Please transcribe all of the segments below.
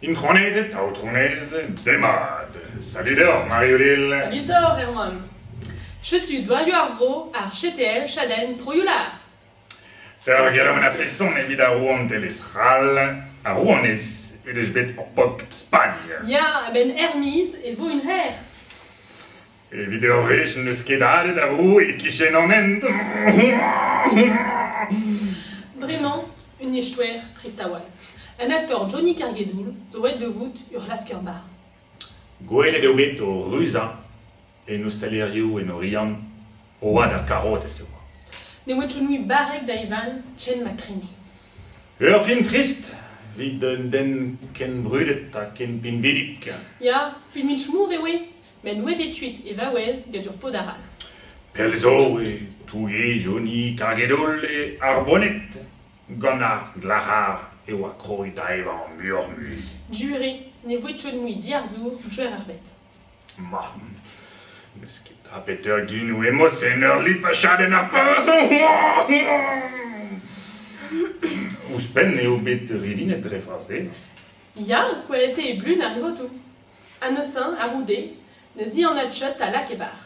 Intronezed, aotronez, demat! Salut deoc'h, Marie-Odile. Salut doc'h, Erwan. Setu doaioù ar vro, ar CTL, chadenn Troioù-lar. Peurgellout a feson evit ar rouantelezh c'hall. Ar rouanez he deus bet ur paotr Spagn. Ya, a-benn er-maez e vo un hêr. Evit ur wech n'eus ket aet ar roue e-kichen an hent. Bremañ, un eskouer trist a-walc'h. Un aktor Johnny Cargedoul zo aet da vout ur c'hlasker-barr. Gwelet eo bet o ruzañ en ostalerioù en Oriant, o oad ar karotez e oa. Ne oa Johnny barrek da evañ Chen McCreamy. Ur film trist evit un den ken brudet ha ken pinvidik. Ya, un inch mour eo e! Met n'oe ket kuit e vaouez gant ur paotr arall. Pell zo e toullejoni karget-holl e Arboned. Gant ar glac'har e oa kroet da evañ muioc'h-mui. Juri, ne voe chod mui diarzour Gwer ar Bed. Ma, n'eus ket a beseurt ginou-emos en ur lipachadenn ar Ouzhpenn eo bet ridinet dre frazenn. Ya, kouaet eo e blun ar votoù. Annesin, a-c'houde, ne zianad Jot a lak e varc'h.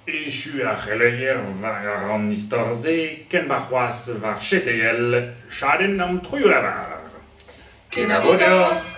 Echu ar c'heleier war an istor-se ken ma c'hoazh war CTL chadenn an troioù-lavar. Kenavo deoc'h!